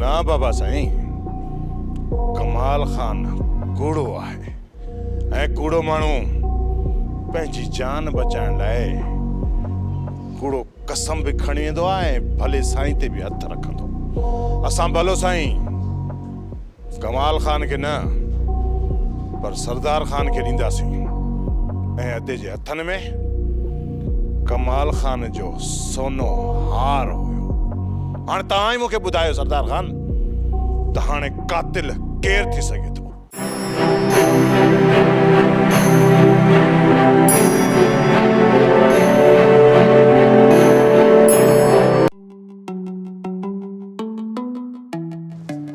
نه بابا سائين ڪمال خان ڪوڙو آهي ۽ ڪوڙو ماڻهو پنهنجي جان بچائڻ لاء ڪوڙو قسم به کڻي ويندو آهي ۽ ڀلي سائين تي به هٿ رکندو اسان ڀلو سائين ڪمال خان کي نه پر سردار خان کي ڏينداسين ۽ ادي جي هٿن ۾ ڪمال خان جو سونو هار هيو. هاڻي توهان ئي مون کي ٻڌايو سردار خان ته هاڻي قاتل ڪير ٿي سگهي ٿو؟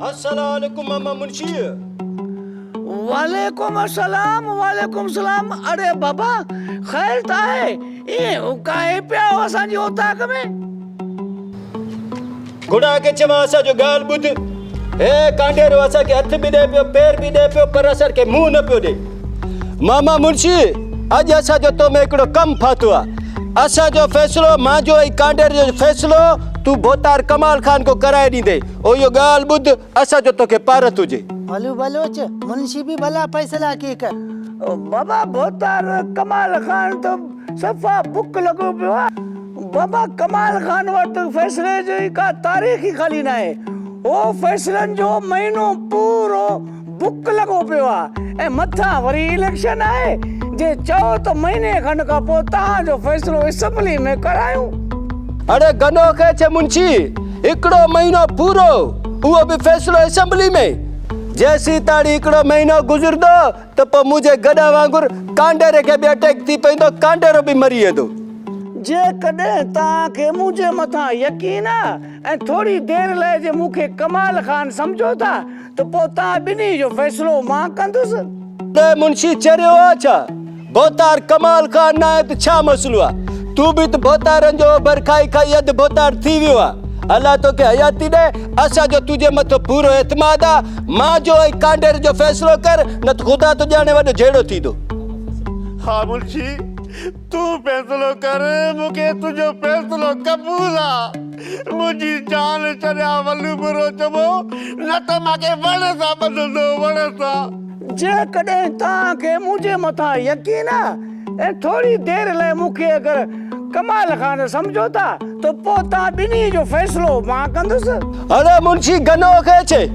السلالڪم ماما منشي. وعليڪم السلام وعليڪم السلام اڙي بابا خير ته آهي ايئن اڪائي پيا آهيو اسان جي اوطاق ۾. گهوڙا کي چوان اسان جو ڳالهه ٻڌ هي ڪانڊيرو اسان کي هٿ به ڏئي پيو پير به ڏئي پيو پر اسان کي منهن نه پيو ڏئي. ماما منشي اڄ اسان جو تو ۾ هڪڙو ڪم ڦاٿو آ اسان جو فيصلو مانجو ۽ ڪانڊر جو فيصلو تو ڀوتار ڪمال خان کو ڪرائي ڏيندي او يو ڳالھ ٻڌ اسان جو توکي پارت هجي ڀلو بلوچ منشي به ڀلا فيصلا ڪي ڪر. بابا ڀوتار ڪمال خان تو صفا بک لڳو پيو آ بابا ڪمال خان وٽ فيصلي جي ڪا تاريخ ئي خالي ناهي هو فيصلن جو مهينو پورو ڌڪ لڳو پيو آ ۽ مٿان وري اليڪشن آهي جي چئو ته مهيني کن کان پوء توهان جو فيصلو اسمبلي ۾ ڪرايون. اڙي گنو کي ڇي منشي هڪڙو مهينو پورو اهو به فيصلو اسمبلي ۾ جيسين تاڻي هڪڙو مهينو گذردو ته پوء منهنجي گڏا وانگر ڪانڊيري کي به اٽيڪ ٿي پيندو ڪانڊيرو به مري ويندو. جيڪڏهن توهان کي منهنجي مٿان يقين آ ۽ ٿوري دير لاء جي مون کي ڪمال خان سمجهو ٿا ته پوء توهان ٻنهي جو فيصلو مان ڪندس. ته منشي چريو آ ڇا؟ ڀوتار ڪمال خان ناهي ته ڇا مسئلو آ؟ تون به ته ڀوتارن جو اوڀر کائي کائي اڌ ڀوتار ٿي ويو آ. الله توکي حياتي ڏئي. اسان جو تنهنجي مٿو پورو اعتماد آ. مان جو ۽ ڪانڊير جو فيصلو ڪر، نه ته خدا ٿو ڄاڻي وڏو جهيڙو ٿيندو. ها منشي! تون فيصلو ڪر، مون کي تنهنجو فيصلو قبول آ. منهنجي جان ڇڏيا ولو به روچبو، نه ته مان کي وڻ سان ٻڌندو، وڻ سان. جيڪڏهن توهان کي منهنجي مٿان يقين آ ۽ ٿوري دير لاء مون کي اگر ڪمال خان سمجهو ٿا ته پوء توهان ٻنهي جو فيصلو مان ڪندس. هن منشي گنوء کي چئي.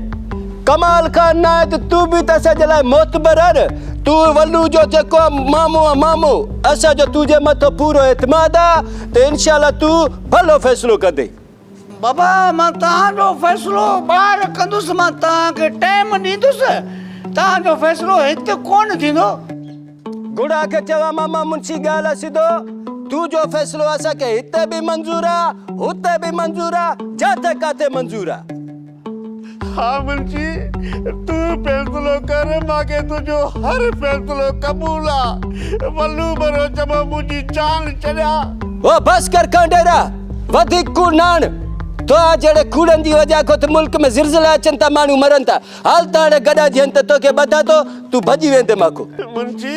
ڪمال خان ناهت تون به ته اسان جي لاء معتبر آهن تون ولو جو جيڪو مامو آهن مامو اسان جو تون جي مٿو پورو اعتماد آهن ته انشاء الله تون ڀلو فيصلو ڪندي. بابا مان توهان جو فيصلو ٻاهر ڪندس مان توهان کي ٽيم ڏيندس توهان جو فيصلو هت ڪون ٿيندو. گڙا کي چيو ماما منشي ڳالهه سڌو تون جو فيصلو اسان کي هت به منظور آهن هت به منظور آهن جاٿي ڪاٿي منظور آهن. ها منشي، تون فيصلو ڪر، مان کي تنهنجو هر فيصلو قبول آ. ولو ڀرو چمو منهنجي جان ڇڏيا. او بس ڪر کانڊيرا، وڌيڪ ڪوڙ نه هڻ. توهان جهڙي کوڙن جي وجهه کان ته ملڪ ۾ زلزلا اچن ٿا، ماڻهو مرن ٿا. هل ته هاڻي گڏا جيئن ته توکي ٻڌان ٿو، تون ڀڄي ويندين مان کان. منشي،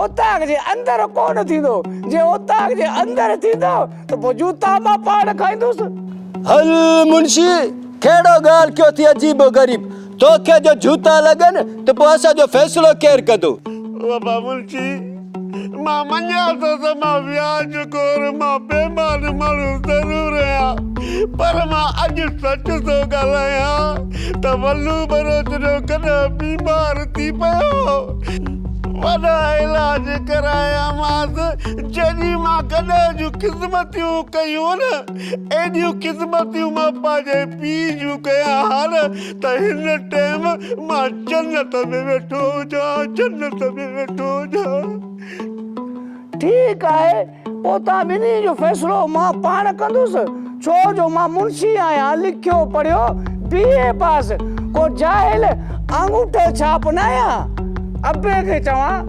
اوطاق جي اندر ڪونه ٿيندو، جي اوطاق جي اندر ٿيندو ته پوء جوتا مان پاڙ کائيندس. هل منشي، ڪهڙو ڳالهه ڪيو اٿئي عجيب و غريب، توکي جو جوتا لڳن ته پوء اسان جو فيصلو ڪير ڪندو؟ وفا منشي، مان مڃان ٿو ته مان وياج خور، مان بيمان ماڻهو ضرور آهيان، پر مان اڄ سچ ٿو ڳالهايان ته ولو ٻروچ جو ڪڏهن بيمار ٿي پيو هو، وڏا علاج ڪرايامانس، جيڏيون مان گڏهه جون خدمتيون ڪيون نه، ايڏيون خدمتيون مان پنهنجي پيء جون ڪيان ها نه ته هن ٽيم مان جنت ۾ ويٺو هجان، جنت ۾ ويٺو هجان. ٺيڪ آهي. پوتان ٻنهي جو فيصلو مان پاڻ ڪندس، ڇو جو مان منشي آهيان، لکيو پڙهيو بي اي پاس، ڪو جاهل آڱوٺو ڇاپ ناهيان. ابي کي چوان.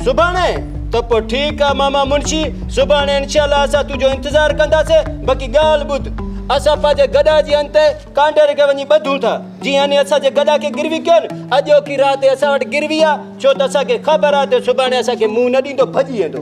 سڀاڻي؟ ته پوء ٺيڪ آ ماما منشي، سڀاڻي انشاء الله اسان تنهنجو انتظار ڪنداسين، باقي ڳالهه ٻڌ، اسان پنهنجي گڏا جي انتهي ڪانڊر کي وڃي ٻڌون ٿا، جيئن انهي اسان جي گڏا کي گروي ڪيو نه، اڄوڪي رات هي اسان وٽ گروي آ، ڇو ته اسان کي خبر آ ته سڀاڻي اسان کي منهن نه ڏيندو، ڀڄي ويندو.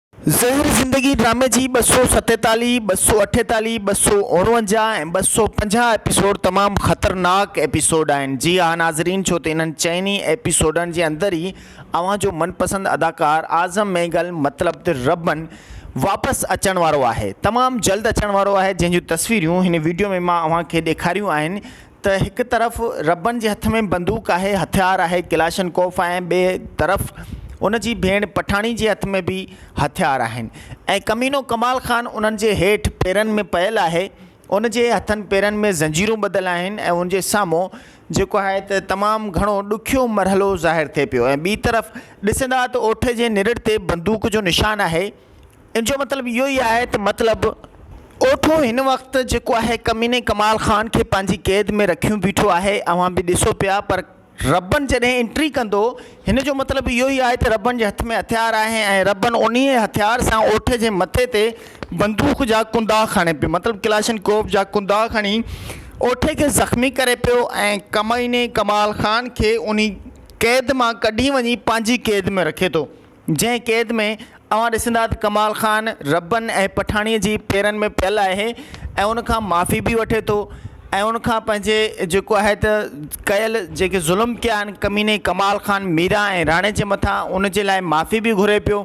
زهر زندگي ڊرامي جي ٻه سؤ ستيتاليهه، ٻه سؤ اٺيتاليهه، ٻه سؤ اڻونجاهه ۽ ٻه سؤ پنجاهه ايپيسوڊ تمام خطرناڪ ايپيسوڊ آهن. جي ها ناظرين ڇو ته انهن چئن ئي ايپيسوڊن جي اندر ئي اوهان جو من پسند اداڪار اعظم مينگل مطلب ته ربن واپس اچڻ وارو آهي. تمام جلد اچڻ وارو آهي جنهن جون تصويريون هن ويڊيو ۾ مان اوهان کي ڏيکاريون آهن ته هڪ طرف ربن جي هٿ ۾ بندوق آهي، هٿيار آهي ڪلاشنڪوف ۽ ٻئي طرف ان جي ڀيڻ پٺاڻي جي هٿ ۾ به هٿيار آهن ۽ ڪمينو ڪمال خان انهن جي هيٺ پيرن ۾ پيل آهي، ان جي هٿن پيرن ۾ زنجيرون ٻڌل آهن ۽ ان جي سامهون جيڪو آهي ته تمام گهڻو ڏکيو مرحلو ظاهر ٿئي پيو ۽ ٻي طرف ڏسندا ته اوٺي جي نرڙ تي بندوق جو نشان آهي ان جو مطلب اهو ئي آهي ته مطلب اوٺو هن وقت جيڪو آهي ڪميني ڪمال خان کي پنهنجي قيد ۾ رکيون بيٺو آهي اوهان به ڏسو پيا پر ربن جڏهن انٽري ڪندو هن جو مطلب اهو ئي آهي ته ربن جي هٿ ۾ هٿيار آهي ۽ ربن انهي هٿيار سان اوٺ جي مٿي تي بندوق جا ڪندا کڻي پيو مطلب ڪلاشن ڪوف جا ڪندا کڻي اوٺي کي زخمي ڪري پيو ۽ ڪميني ڪمال خان کي انهي قيد مان ڪڍي وڃي پنهنجي قيد ۾ رکي ٿو جنهن قيد ۾ اوهان ڏسندا ته ڪمال خان ربن ۽ پٺاڻيء جي پيرن ۾ پيل آهي ۽ ان کان معافي به وٺي ٿو ۽ ان کان پنهنجي جيڪو آهي ته ڪيل جيڪي ظلم ڪيا آهن ڪميني ڪمال خان ميرا ۽ راڻي جي مٿان ان جي لاء معافي به گهري پيو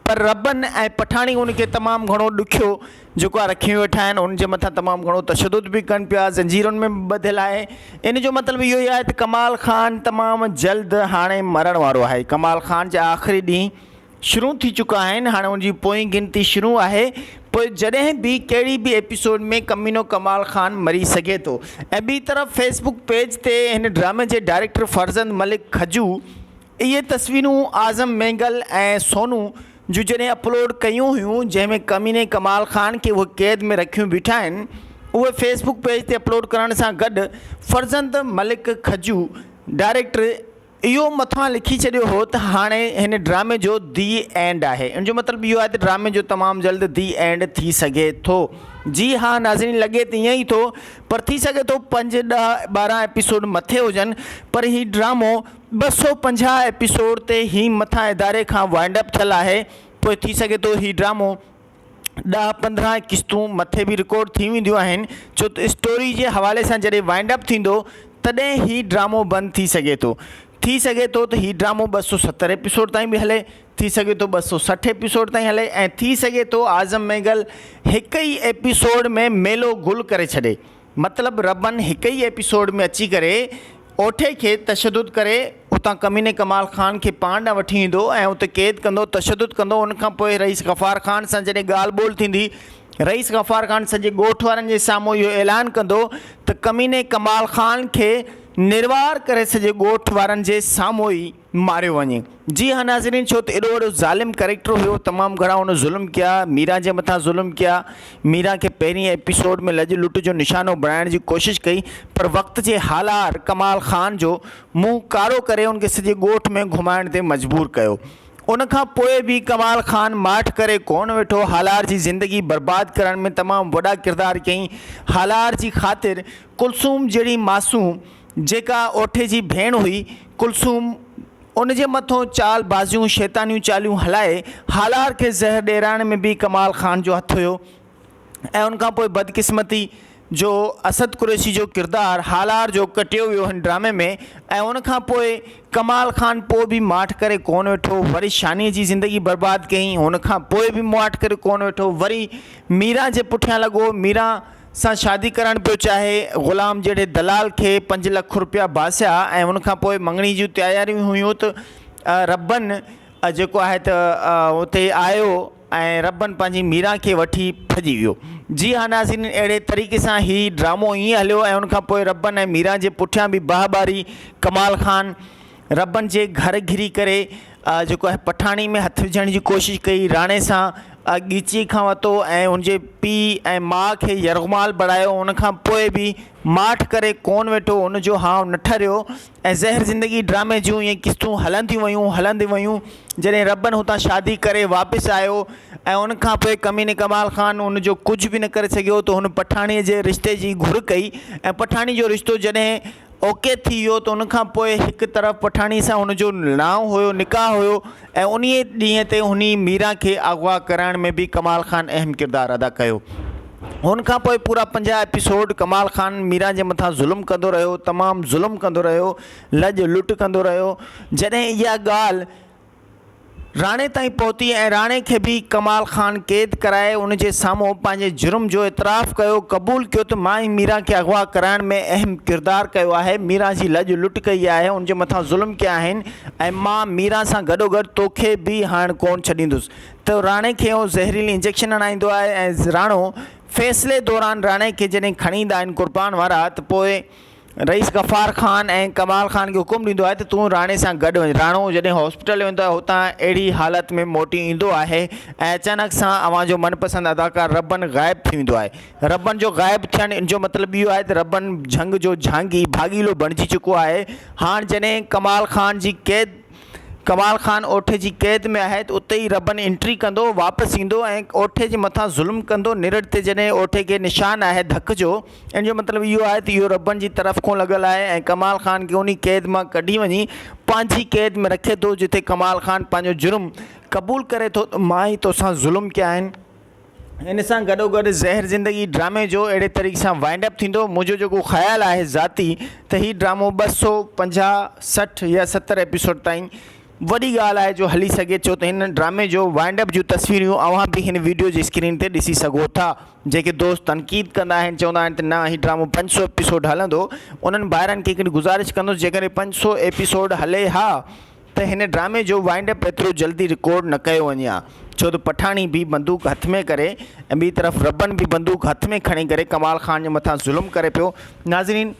پر ربن ۽ پٺاڻي ان کي تمام گهڻو ڏکيو جيڪو آ رکي ويٺا آهن ان جي مٿان تمام گهڻو تشدد به ڪن پيا زنجيرن ۾ به ٻڌل آهي ان جو مطلب اهو ئي آهي ته ڪمال خان تمام جلد هاڻي مرڻ وارو آهي ڪمال خان جا آخري ڏينهن شروع ٿي چڪا آهن هاڻي ان جي پوئين گنتي شروع آهي پوء جڏهن به ڪهڙي به ايپيسوڊ ۾ ڪمينو ڪمال خان مري سگهي ٿو ۽ ٻي طرف فيسبڪ پيج تي هن ڊرامي جي ڊائريڪٽر فرزند ملڪ کجو اهي تصويرون اعظم مينگل ۽ سونو جون جڏهن اپلوڊ ڪيون هيون جنهن ۾ ڪميني ڪمال خان کي اهي قيد ۾ رکيون بيٺا آهن اهي فيس بڪ پيج تي اپلوڊ ڪرڻ سان گڏ فرزند ملڪ کجو ڊائريڪٽر اهو مٿان لکي ڇڏيو هو ته هاڻي هن ڊرامي جو دي اينڊ آهي ان جو مطلب اهو آهي ته ڊرامي جو تمام جلد دي اينڊ ٿي سگهي ٿو جي ها ناظرين لڳي ته ائين ئي ٿو پر ٿي سگهي ٿو پنج ڏهه ٻارهن ايپيسوڊ مٿي هجن پر هي ڊرامو ٻه سؤ پنجاهه ايپيسوڊ تي هي مٿان اداري کان وائنڊ اپ ٿيل آهي پوء ٿي سگهي ٿو هي ڊرامو ڏهه پندرهن قسطون مٿي به رڪارڊ ٿي وينديون آهن ڇو ته اسٽوري جي حوالي سان جڏهن وائنڊ اپ ٿيندو تڏهن هي ڊرامو بند ٿي سگهي ٿو ٿي سگهي ٿو ته هي ڊرامو ٻه سؤ ستر ايپيسوڊ تائين به هلي ٿي سگهي ٿو ٻه سؤ سٺ ايپيسوڊ تائين هلي ۽ ٿي سگهي ٿو اعظم مينگل هڪ ئي ايپيسوڊ ۾ ميلو گل ڪري ڇڏي مطلب ربن هڪ ئي ايپيسوڊ ۾ اچي ڪري اوٺي کي تشدد ڪري اتان ڪميني ڪمال خان کي پاڻ ڏانهن وٺي ايندو ۽ اتي قيد ڪندو تشدد ڪندو ان کان پوء رئيس غفار خان سان جڏهن ڳالهه ٻولهه ٿيندي رئيس غفار خان سڄي ڳوٺ وارن جي سامهون اهو اعلان ڪندو ته ڪميني ڪمال خان کي نروار ڪري سڄي ڳوٺ وارن جي سامهون ئي ماريو وڃي. جي ها ناظرين ڇو ته ايڏو وڏو ظالم ڪريڪٽر هيو تمام گهڻا هن ظلم ڪيا ميران جي مٿان ظلم ڪيا ميران کي پهرين ايپيسوڊ ۾ لڄ لٽ جو نشانو بڻائڻ جي ڪوشش ڪئي پر وقت جي هالار ڪمال خان جو منهن ڪارو ڪري ان کي سڄي ڳوٺ ۾ گهمائڻ تي مجبور ڪيو ان کان پوء به ڪمال خان ماٺ ڪري ڪونه ويٺو هالار جي زندگي برباد ڪرڻ ۾ تمام وڏا ڪردار ڪيائين هالار جي خاطر ڪلثوم جهڙي معصوم جيڪا اوٺي جي ڀيڻ هئي ڪلثوم ان جي مٿون چال بازيون شيطانيون چاليون هلائي هالار کي زهر ڏيرائڻ ۾ به ڪمال خان جو هٿ هيو ۽ ان کان پوء بدقسمتي جو اسد قريشي جو ڪردار هالار جو ڪٽيو ويو هن ڊرامي ۾ ۽ ان کان پوء ڪمال خان پوء به ماٺ ڪري ڪون ويٺو وري شاني جي زندگي برباد ڪيائين ان کان پوء به ماٺ ڪري ڪون ويٺو وري ميران جي پٺيان لڳو ميران سان شادي ڪرائڻ پيو چاهي. غلام جهڙي دلال کي پنج لک روپيا ڀاسيا ۽ ان کان پوء مڱڻي جون تياريون هيون ته ربن جيڪو آهي ته اتي آيو ۽ ربن پنهنجي ميران کي وٺي ڀڄي ويو. جي ها ناظرين اهڙي طريقي سان هي ڊرامو ائين هليو ۽ ان کان پوء ربن ۽ ميران جي پٺيان به بهه ٻاري ڪمال خان. ربن جي گهر گهري ڪري جيڪو آهي پٺاڻي ۾ هٿ وجهڻ جي ڪوشش ڪئي راڻي سان ڳچيء کان ورتو ۽ ان جي پيء ۽ ماء کي يرغمال بڻايو ان کان پوء به ماٺ ڪري ڪونه ويٺو ان جو هانء نه ٺريو ۽ زهر زندگي ڊرامي جون اهي قسطون هلنديون ويون هلنديون ويون جڏهن ربن هتان شادي ڪري واپس آيو ۽ ان کان پوء ڪميني ڪمال خان ان جو ڪجهه به نه ڪري سگهيو ته هن پٺاڻيء جي رشتي جي گهر ڪئي ۽ پٺاڻي جو رشتو جڏهن اوڪي ٿي ويو ته ان کان پوء هڪ طرف پٺاڻي سان هن جو نانء هيو، نڪاح هيو ۽ انهيء ڏينهن تي هني ميران کي اغوا ڪرائڻ ۾ به ڪمال خان اهم ڪردار ادا ڪيو. ان کان پوء پورا پنجاهه ايپيسوڊ ڪمال خان ميران جي مٿان ظلم ڪندو رهيو، تمام ظلم ڪندو رهيو، لڄ لٽ ڪندو رهيو، جڏهن اها ڳالهه راڻي تائين پهتي ۽ راڻي کي به ڪمال خان قيد ڪرائي ان جي سامهون پنهنجي جرم جو اعتراف ڪيو، قبول ڪيو ته مان ئي ميران کي اغوا ڪرائڻ ۾ اهم ڪردار ڪيو آهي، ميران جي لڄ لٽ ڪئي آهي، ان جي مٿان ظلم ڪيا آهن ۽ مان ميران سان گڏوگڏ توکي به هائڻ ڪونه ڇڏيندس ته راڻي کي اهو زهريلي انجيڪشن هڻائيندو آهي ۽ راڻو فيصلي دوران راڻي کي جڏهن کڻي ايندا آهن قربان وارا ته پوء رئيس غفار خان ۽ ڪمال خان کي حڪم ڏيندو آهي ته تون راڻي سان گڏ وڃ. راڻو جڏهن هاسپيٽل ويندو آهي هتان اهڙي حالت ۾ موٽي ايندو آهي ۽ اچانڪ سان اوهان جو من پسند اداڪار ربن غائب ٿي ويندو آهي. ربن جو غائب ٿيڻ ان جو مطلب اهو آهي ته ربن جهنگ جو جهانگي، ڀاڳيلو، بڻجي چڪو آهي. هاڻ جڏهن ڪمال خان جي قيد ڪمال خان اوٺي جي قيد ۾ آهي ته اتي ئي ربن انٽري ڪندو، واپس ايندو ۽ اوٺي جي مٿان ظلم ڪندو. نرڙ تي جڏهن اوٺي کي نشان آهي ڌڪ جو. ان جو مطلب اهو آهي ته اهو ربڻ جي طرف کان لڳل آهي ۽ ڪمال خان کي انهي قيد مان ڪڍي وڃي پنهنجي قيد ۾ رکي ٿو جتي ڪمال خان پنهنجو جرم قبول ڪري ٿو ته مان ئي توسان ظلم ڪيا آهن. ان سان گڏوگڏ زهر زندگي ڊرامي جو اهڙي طريقي سان وائنڊ اپ ٿيندو منهنجو جيڪو خيال آهي ذاتي ته هي ڊرامو ٻه سؤ پنجاهه سٺ يا ستر ايپيسوڊ تائين وڏي ڳالهه آهي جو هلي سگهي ڇو ته هن ڊرامي جو وائنڊ اپ جون تصويريون اوهان به هن ويڊيو جي اسڪرين تي ڏسي سگهو ٿا. جيڪي دوست تنقيد ڪندا آهن چوندا آهن ته نه هي ڊرامو پنج سؤ ايپيسوڊ هلندو انهن ڀائرن کي هڪڙي گذارش ڪندس جيڪڏهن پنج سؤ ايپيسوڊ هلي ها ته هن ڊرامي جو وائنڊ اپ ايترو جلدي رڪارڊ نه ڪيو وڃي ها ڇو ته پٺاڻي به بندوق هٿ ۾ ڪري ۽ ٻي طرف ربن به بندوق هٿ ۾ کڻي ڪري ڪمال خان جي مٿان ظلم ڪري پيو ناظرين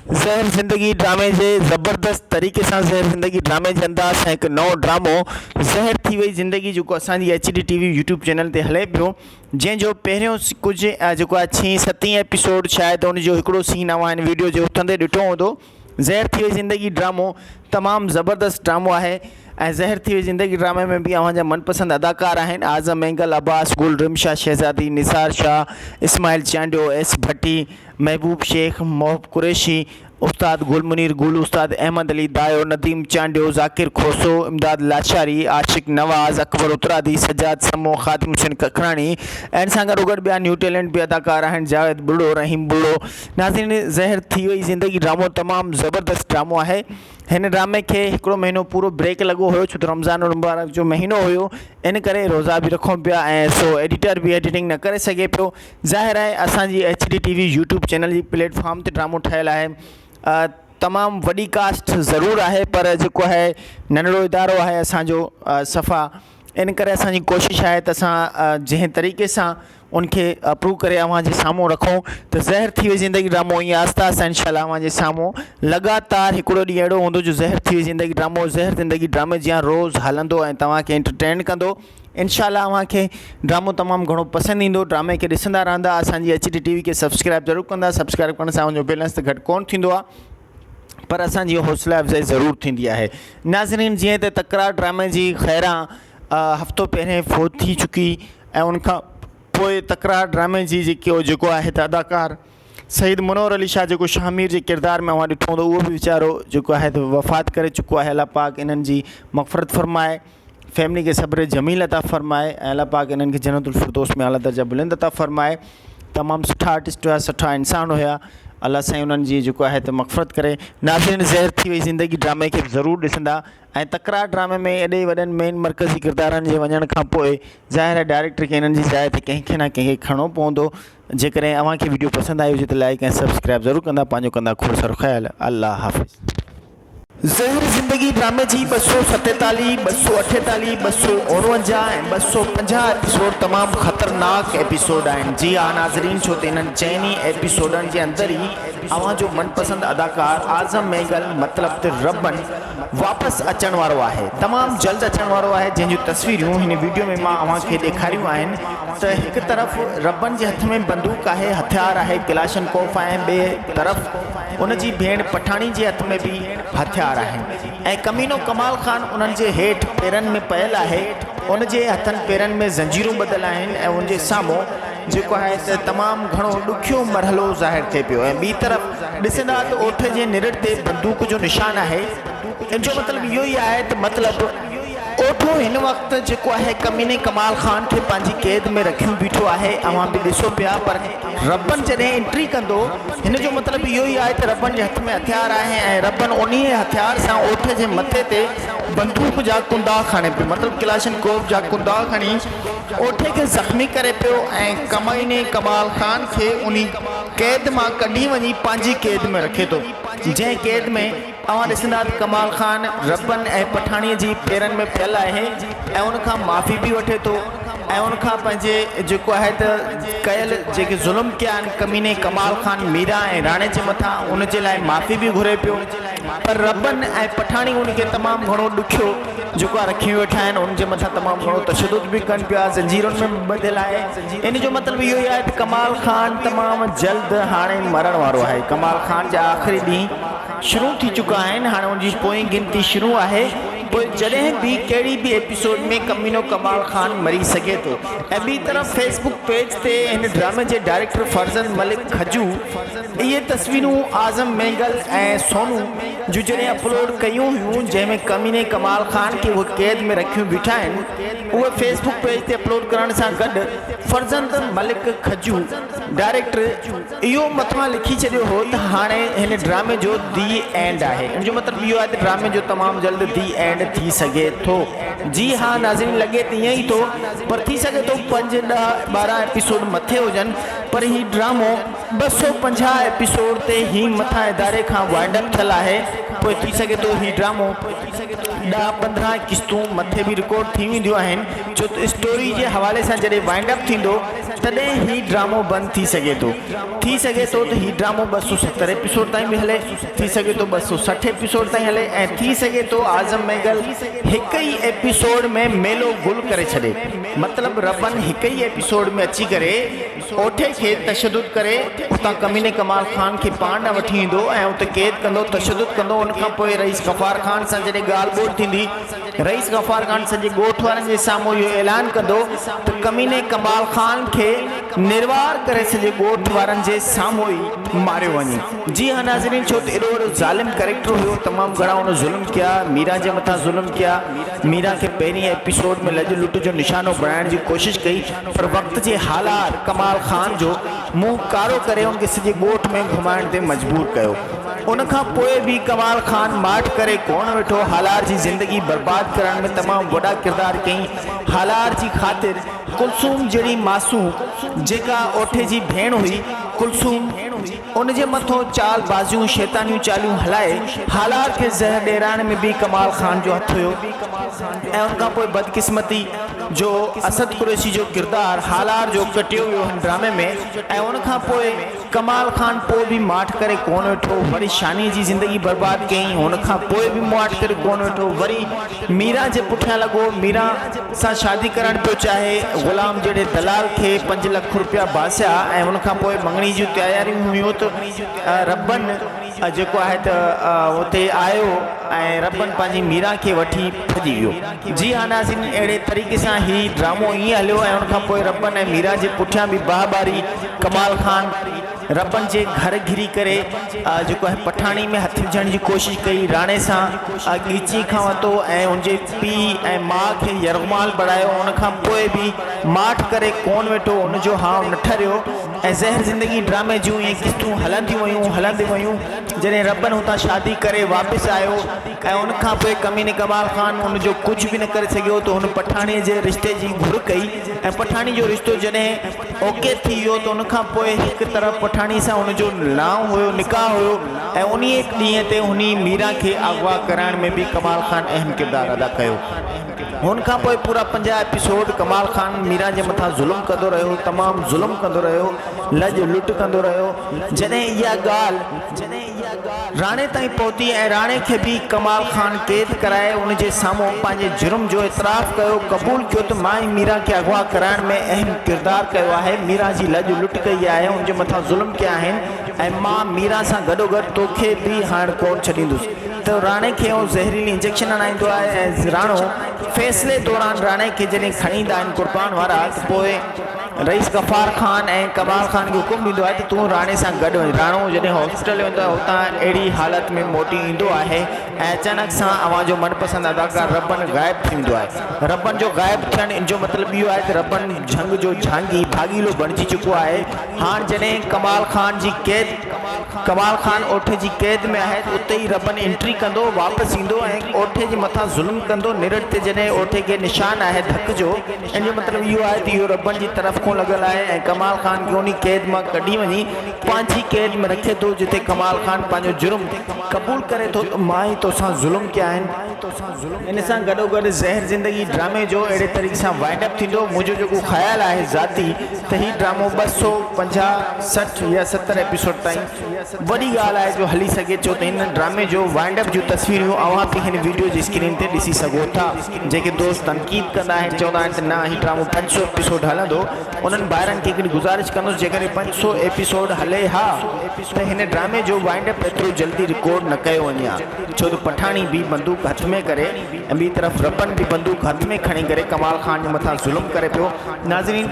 زهر زندگي ڊرامي جي زبردست طريقي سان زهر زندگي ڊرامي جي انداز سان هڪ نئون ڊرامو زهر ٿي وئي زندگي جيڪو اسان جي H D T V YouTube channel تي هلي پيو جنهن جو پهريون ڪجهه جيڪو آهي ڇهين ستين ايپيسوڊ شايد ان جو هڪڙو سين اوهان هن ويڊيو جي اٿندي ڏٺو هوندو زهر ٿي وئي زندگي ڊرامو تمام زبردست ڊرامو آهي ۽ زهر ٿي وئي زندگي ڊرامي ۾ به اوهان جا من پسند اداڪار آهن اعظم مينگل عباس گل رمشا شهزادي نثار شاهه اسماعيل چانڊيو ايس ڀٽي محبوب شيخ محب قريشي استاد گل منير گل، استاد احمد علي دايو، نديم چانڊيو، ذاڪر کوسو، امداد لاشاري، عاشق نواز، اڪبر اترادي، سجاد سمون، خادم حسين ککراڻي ۽ سان گڏوگڏ ٻيا نيو ٽيلنٽ به اداڪار آهن جاويد ٻرڙو، رحيم ٻرڙو. ناظرين زهر ٿي وئي زندگي ڊرامو تمام زبردست ڊرامو آهي هن ڊرامي کي هڪڙو مهينو پورو بريڪ لڳو هيو ڇو ته رمضان المبارڪ جو مهينو هيو ان ڪري روزا به رکون پيا ۽ سو ايڊيٽر به ايڊيٽنگ نه ڪري سگهي پيو ظاهر آهي اسان جي H D T V YouTube channel جي پليٽ فارم تي ڊرامو ٺهيل آهي تمام وڏي ڪاسٽ ضرور آهي پر جيڪو آهي ننڍڙو ادارو آهي اسانجو صفا ان ڪري اسانجي ڪوشش آهي ته اسان جنهن طريقي سان ان کي اپروو ڪري اوهان جي سامهون رکون ته زهر ٿي وئي زندگي ڊرامو ائين آهسته آهسته انشاء الله اوهان جي سامهون لڳاتار هڪڙو ڏينهن اهڙو هوندو جو زهر ٿي وئي زندگي ڊرامو زهر زندگي ڊرامي جيان روز هلندو ۽ توهان کي انٽرٽينٽ ڪندو انشاء الله اوهان کي ڊرامو تمام گهڻو پسند ايندو ڊرامي کي ڏسندا رهندا اسان جي ايچ ڊي ٽي وي کي سبسڪرائب ضرور ڪندا سبسڪرائب ڪرڻ سان اوهان جو بيلنس ته گهٽ ڪون ٿيندو آهي پر اسان جي حوصله افزائي ضرور ٿيندي آهي ناظرين جيئن ته تڪرار ڊرامي جي خيرا هفتو پهرين فوت ٿي چڪي ۽ ان کان پوء تڪرار ڊرامي جي جيڪي هو جيڪو آهي ته اداڪار سيد منور علي شاهه جيڪو شاهه مير جي ڪردار ۾ اوهان ڏٺو هوندو اهو به ويچارو جيڪو آهي ته وفات ڪري چڪو آهي الله پاڪ انهن جي مغفرت فرمائي فيملي کي صبر جميل عطا فرمائي ۽ الله پاڪ انهن کي جنت الفردوس ۾ اعليٰ درجا بلند عطا فرمائي تمام سٺا آرٽسٽ هيا سٺا انسان هيا الله سائين انهن جي جيڪو آهي ته مغفرت ڪري ناظرين زهر ٿي وئي زندگي ڊرامي کي ضرور ڏسندا ۽ تڪرار ڊرامي ۾ ايڏي وڏن مين مرڪزي ڪردارن جي وڃڻ کان پوء ظاهر آهي ڊائريڪٽر کي انهن جي جاء تي ڪنهن کي نه ڪنهن کي کڻڻو پوندو جيڪڏهن اوهان کي وڊيو پسند آئي هجي ته لائيڪ ۽ سبسڪرائيب ضرور ڪندا پنهنجو ڪندا کوڙ سارو خيال الله حافظ. زهر زندگي ڊرامي جي ٻه سؤ ستيتاليهه، ٻه سؤ اٺيتاليهه، ٻه سؤ اڻونجاهه ۽ ٻه سؤ پنجاهه ايپيسوڊ تمام خطرناڪ ايپيسوڊ آهن جي ها ناظرين ڇو ته انهن چئن ئي ايپيسوڊن جي اندر ئي اوهان جو من پسند اداڪار اعظم مينگل مطلب ته ربن واپس اچڻ وارو آهي تمام جلد اچڻ وارو آهي جنهن جون تصويريون هن ويڊيو ۾ مان اوهان کي ڏيکاريون آهن ته هڪ طرف ربن جي هٿ ۾ بندوق آهي هٿيار آهي ڪلاشن ڪوف ۽ ٻئي طرف ان جي ڀيڻ پٺاڻي جي هٿ ۾ به هٿيار آهن ۽ ڪمينو ڪمال خان انهن جي هيٺ پيرن ۾ پيل آهي ان جي هٿن پيرن ۾ زنجيرون ٻڌل آهن ۽ ان جي سامهون جيڪو آهي ته تمام گهڻو ڏکيو مرحلو ظاهر ٿئي پيو ۽ ٻي طرف ڏسندا ته اوٺ جي نرڙ تي بندوق جو نشان آهي ان جو مطلب اهو ئي آهي ته مطلب اوٺون هن وقت جيڪو آهي ڪميني ڪمال خان کي پنهنجي قيد ۾ رکيون بيٺو آهي اوهان به ڏسو پيا پر ربن جڏهن انٽري ڪندو هن جو مطلب اهو ئي آهي ته ربن جي هٿ ۾ هٿيار آهي ۽ ربن انهي هٿيار سان اوٺ جي مٿي تي بندوق جا ڪنڊا کڻي پيو مطلب ڪلاشن ڪوف جا ڪنڊا کڻي ڳوٺي کي زخمي ڪري پيو ۽ ڪمائني ڪمال خان کي انهي قيد مان ڪڍي وڃي پنهنجي قيد ۾ رکي ٿو جنهن قيد ۾ اوهان ڏسندا ته ڪمال خان ربن ۽ پٺاڻي جي پيرن ۾ پيل آهي ۽ ان کان معافي به وٺي ٿو ۽ ان کان پنهنجي جيڪو آهي ته ڪيل جيڪي ظلم ڪيا آهن ڪميني ڪمال خان ميرا ۽ راڻي جي مٿان ان جي لاء معافي به گهري پيو پر ربن ۽ پٺاڻي ان کي تمام گهڻو ڏکيو جڪا رکي ويٺا آهن ان جي مٿان تمام گهڻو تشدد به ڪن پيا زنجيرن ۾ به ٻڌل آهي ان جو مطلب اهو ئي آهي ته ڪمال خان تمام جلد هاڻي مرڻ وارو آهي ڪمال خان جا آخري ڏينهن شروع ٿي چڪا آهن هاڻي ان جي پوئين گنتي شروع آهي پوء جڏهن به ڪهڙي به ايپيسوڊ ۾ ڪمينو ڪمال خان مري سگهي ٿو ۽ ٻي طرف فيس بڪ پيج تي هن ڊرامي جي ڊائريڪٽر فرزند ملڪ کجو اهي تصويرون اعظم مينگل ۽ سونو جون جڏهن اپلوڊ ڪيون هيون جنهن ۾ ڪميني ڪمال خان کي اهي قيد ۾ رکيون بيٺا آهن اهي فيس بڪ پيج تي اپلوڊ ڪرڻ سان گڏ فرزند ملڪ کجو ڊائريڪٽر اهو مٿان لکي ڇڏيو هو ته هاڻي هن ڊرامي جو دي اينڊ آهي ان جو مطلب اهو آهي ته ڊرامي جو تمام جلد دي اينڊ ٿي سگهي ٿو جي ها ناظرين لڳي ته ائين ئي ٿو پر ٿي سگهي ٿو پنج ڏهه ٻارهن ايپيسوڊ مٿي هجن پر هي ڊرامو ٻه سؤ پنجاهه ايپيسوڊ تي هي مٿان اداري کان وائنڊ اپ ٿيل آهي پوء ٿي سگهي ٿو هي ڊرامو ڏهه پندرهن قسطون مٿي به رڪارڊ ٿي وينديون آهن ڇو ته اسٽوري جي حوالي سان جڏهن وائنڊ اپ ٿيندو تڏهن هي ڊرامو بند ٿي سگهي ٿو ٿي سگهي ٿو ته هي ڊرامو ٻه سؤ ستر ايپيسوڊ تائين به هلي ٿي سگهي ٿو ٻه سؤ سٺ ايپيسوڊ تائين هلي ۽ ٿي سگهي ٿو اعظم مينگل هڪ ئي ايپيسوڊ ۾ ميلو گل ڪري ڇڏي مطلب ربن هڪ ئي ايپيسوڊ ۾ اچي ڪري سوٺي کي تشدد ڪري اتان ڪميني ڪمال خان کي پاڻ ڏانهن وٺي ايندو ۽ اتي قيد ڪندو تشدد ڪندو ان کان پوء رئيس غفار خان سان جڏهن ڳالهه ٻولهه ٿيندي رئيس غفار خان سڄي ڳوٺ وارن جي سامهون اهو اعلان ڪندو ته ڪميني ڪمال خان کي نروار ڪري سڄي ڳوٺ وارن جي سامهون ئي ماريو وڃي جي ها ناظرين ڇو ته ايڏو وڏو ظالم ڪريڪٽر هيو تمام گهڻا ان ظلم ڪيا ميرا جي مٿان ظلم ڪيا ميرا کي پهرين ايپيسوڊ ۾ لڄ لٽ جو نشانو بڻائڻ جي ڪوشش ڪئي پر وقت جي حالات ڪمال خان جو منهن ڪارو ڪري ان کي سڄي ڳوٺ ۾ گهمائڻ تي مجبور ڪيو. ان کان پوء به ڪمال خان ماٺ ڪري ڪونه ويٺو. هالار جي زندگي برباد ڪرڻ ۾ تمام وڏا ڪردار ڪيائين. هالار جي خاطر ڪلثوم جهڙي معصوم جيڪا اوٺي جي ڀيڻ هئي ڪلثوم، ان جي مٿو چال بازيون شيطانيون چاليون هلائي حالات کي زهر ڏيرائڻ ۾ به ڪمال خان جو هٿ هيو ۽ ان کانپوء بدقسمتي جو اسد قريشي جو ڪردار هالار جو ڪٽيو ويو هن ڊرامي ۾ ۽ ان کانپوء ڪمال خان پوء به ماٺ ڪري ڪونه ويٺو وري شاني جي زندگي برباد ڪيائين ان کانپوء به ماٺ ڪري ڪونه ويٺو وري ميران جي پٺيان لڳو، ميران سان شادي ڪرڻ پيو چاهي، غلام جهڙي دلال کي پنج لک روپيا باسيا ۽ ان کان پوء مڱڻي جون تياريون هيون ته ربن جيڪو آهي ته اتي آيو ۽ ربن پنهنجي ميران کي وٺي ڀڄي ويو. جي ها ناظرين اهڙي طريقي سان هي ڊرامو ائين هليو ۽ ان کان پوء ربن ۽ ميران جي پٺيان به باهه ٻاري ڪمال خان. ربن جي گهر گهري ڪري جيڪو آهي پٺاڻي ۾ هٿ وجهڻ جي ڪوشش ڪئي، راڻي سان ڳچي کان وتو ۽ ان جي پيء ۽ ماء کي يرغمال بڻايو، ان کان پوء به ماٺ ڪري ڪونه ويٺو، ان جو هانء نه ٺريو ۽ زهر زندگي ڊرامي جون اهي قسطون هلنديون ويون، هلنديون ويون، جڏهن ربن هتان شادي ڪري واپس آيو ۽ ان کان پوء ڪميني ڪمال خان ان جو ڪجهه به نه ڪري سگهيو ته هن پٺاڻي جي رشتي جي گهر ڪئي ۽ پٺاڻي جو رشتو جڏهن اوڪي ٿي ويو ته ان کان پوء هڪ طرف پٺاڻي سان ان جو نڻائو هيو، نڪاح هيو ۽ انهيء ڏينهن تي هني ميران کي اغوا ڪرائڻ ۾ به ڪمال خان اهم ڪردار ادا ڪيو. هن کان پوء پورا پنجاهه ايپيسوڊ ڪمال خان ميران جي مٿان ظلم ڪندو رهيو، تمام ظلم ڪندو رهيو، لڄ لٽ ڪندو رهيو، جڏهن اها ڳالهه. راڻي تائين پهتي ۽ راڻي کي به ڪمال خان قيد ڪرائي ان جي سامهون پنهنجي جرم جو اعتراف ڪيو قبول ڪيو ته مان ئي ميران کي اغوا ڪرائڻ ۾ اهم ڪردار ڪيو آهي ميران جي لڄ لٽ ڪئي آهي ان جي مٿان ظلم ڪيا آهن ۽ مان ميران سان گڏوگڏ توکي به هائڻ ڪون ڇڏيندس ته راڻي کي اهو زهريلي انجيڪشن هڻائيندو آهي ۽ راڻو فيصلي دوران راڻي کي جڏهن کڻي ايندا آهن قربان وارا ته پوء رئيس غفار خان ۽ ڪمال خان کي حڪم ڏيندو آهي ته تون راڻي سان گڏ وڃ. راڻو جڏهن هاسپيٽل ويندو آهي اتان اهڙي حالت ۾ موٽي ايندو آهي ۽ اچانڪ سان اوهان جو من پسند اداڪار ربن غائب ٿي ويندو آهي. ربن جو غائب ٿيڻ ان جو مطلب اهو آهي ته ربن جهنگ جو جهانگي، ڀاڳيلو، بڻجي چڪو آهي. هاڻ جڏهن ڪمال خان جي قيد ڪمال خان اوٺي جي قيد ۾ آهي ته اتي ئي ربن انٽري ڪندو، واپس ايندو ۽ اوٺي جي مٿان ظلم ڪندو. نرڙ تي جڏهن اوٺي کي نشان آهي ڌڪ جو. ان جو مطلب اهو آهي ته اهو ربڙ جي طرف کان لڳل آهي ۽ ڪمال خان کي انهي قيد مان ڪڍي وڃي پنهنجي قيد ۾ رکي ٿو جتي ڪمال خان پنهنجو جرم قبول ڪري ٿو ته مان ئي توسان ظلم ڪيا آهن. ان سان گڏوگڏ زهر زندگي ڊرامي جو اهڙي طريقي سان وائنڊ اپ ٿيندو، منهنجو جيڪو خيال آهي ذاتي ته هي ڊرامو ٻه سؤ پنجاهه، سٺ يا ستر ايپيسوڊ تائين وڏي ڳالهه آهي جو هلي سگهي ٿو ته هن ڊرامي جو وائنڊ اپ جون تصويريون اوهان به هن وڊيو جي اسڪرين تي ڏسي سگهو ٿا جيڪي دوست تنقيد ڪندا آهن چوندا آهن ته نه هي ڊرامو پنج سؤ ايپيسوڊ هلندو انهن ڀائرن کي هڪڙي گذارش ڪندس جيڪڏهن پنج سؤ ايپيسوڊ هلي ها ته هن ڊرامي جو وائنڊ اپ ايترو جلدي رڪارڊ نه ڪيو وڃي ها ڇو ته پٺاڻي به بندوق هٿ ۾ ڪري ۽ ٻي طرف رپن به بندوق هٿ ۾ کڻي ڪري ڪمال خان جي مٿان ظلم ڪري پيو ناظرين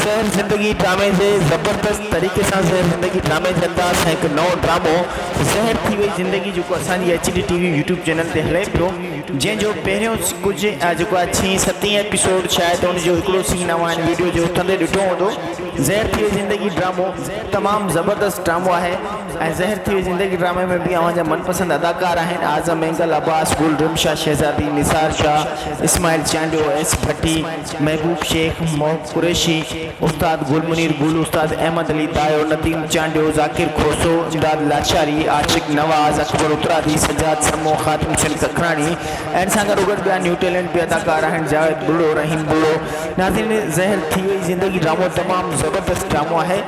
زهر زندگي ڊرامي جي زبردست طريقي سان زهر زندگي ڊرامي جي انداز سان هڪ نئون ڊرامو زهر ٿي وئي زندگي جيڪو اسان جي H D T V YouTube channel تي هلي پيو جنهن جو پهريون ڪجهه جيڪو آهي ڇهين ستين ايپيسوڊ شايد ان جو هڪڙو سين اوهان ويڊيو جي اٿندي ڏٺو هوندو زهر ٿي وئي زندگي ڊرامو تمام زبردست ڊرامو آهي ۽ زهر ٿي وئي زندگي ڊرامي ۾ به اوهان جا من پسند اداڪار آهن اعظم مينگل عباس گل رمشا شهزادي نثار شاهه اسماعيل چانڊيو ايس ڀٽي محبوب شيخ، محب قريشي، استاد گل منير گل، استاد احمد علي دايو، نديم چانڊيو، ذاڪر کوسو، امداد لاچاري، عاشق نواز، اڪبر اترادي، سجاد سمون، خادم حسين ککراڻي ۽ سان گڏو گڏ ٻيا نيو ٽيلنٽ به اداڪار آهن جاويد ٻلڙو، رحيم ٻلڙو. ناظرين زهر ٿي وئي زندگي ڊرامو تمام زبردست ڊرامو آهي.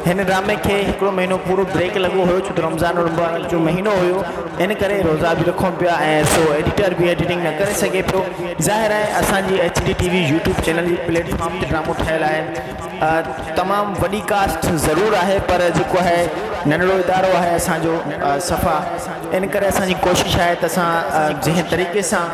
هن ڊرامي کي هڪڙو مهينو پورو بريڪ لڳو هيو ڇو ته رمضان المبارڪ جو مهينو هيو ان ڪري روزا به رکون پيا ۽ سو ايڊيٽر به ايڊيٽنگ نه ڪري سگهي پيو ظاهر آهي اسان جي H D T V YouTube channel جي پليٽ فارم تي ڊرامو ٺهيل آهي تمام وڏي ڪاسٽ ضرور آهي پر جيڪو آهي ننڍڙو ادارو آهي اسان جو صفا ان ڪري اسان جي ڪوشش آهي ته اسان جنهن طريقي سان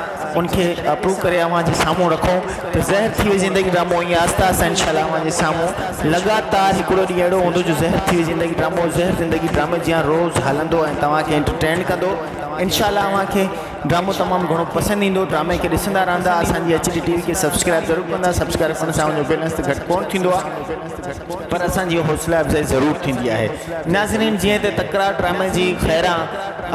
ان کي اپروو ڪري اوهان جي سامهون رکون ته زهر ٿي وئي زندگي ڊرامو ائين آهسته آهسته انشاء الله اوهان جي سامهون لڳاتار هڪڙو ڏينهن اهڙو هوندو جو زهر ٿي وئي زندگي ڊرامو زهر زندگي ڊرامي جيان روز هلندو ۽ توهان کي انٽرٽينڊ ڪندو انشاء الله اوهان کي ڊرامو تمام گهڻو پسند ايندو ڊرامي کي ڏسندا رهندا اسان جي ايڇ ڊي ٽي وي کي سبسڪرائب ضرور ڪندا سبسڪرائب ڪرڻ سان اوهان جو بيلنس ته گهٽ ڪونه ٿيندو آهي پر اسان جي حوصلا افزائي ضرور ٿيندي آهي ناظرين جيئن ته تڪرار ڊرامي جي خيران